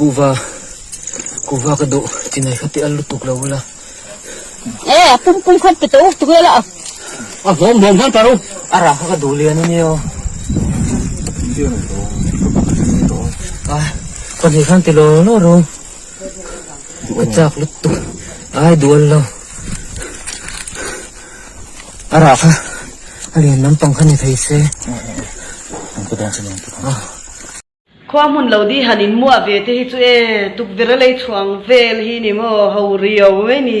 Kuhva, kuhva ka duh ti nei kha tih a lutuk lo ula. E, a pum pum khan pe tawk tu ela a. A hlawm hlawm khan paru. A ra kha ka duh lian a nia. A, pahnih khan ti lawr lawr ru. Ka chak lutuk. Ai dual lo. A ra kha a lian lampang kha ni thei se. Ang ka dawn che nen. Khua hmun lo di han in muah ve te hi chu e tukverh lei chhuang vel hi ni maw ho rio mai ni.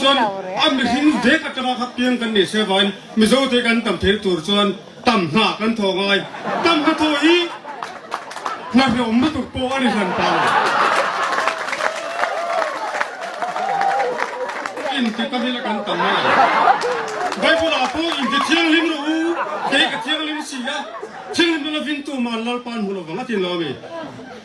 Chuan a mihring vek atanga kha piang kan nih se vain Mizote kan tam thei tur chuan Tam hna kan thaw ngai. Tam ka thaw hi hna hlawm lutuk pawh a ni hlan ta lo. Inti tam hi la kan tam ngai lo. Bible ah pawh inti thianghlim rawh u, kei ka thianghlim si a, thianghlim na lovin tuman Lalpa'n hmu lo vang a ti lo a mi.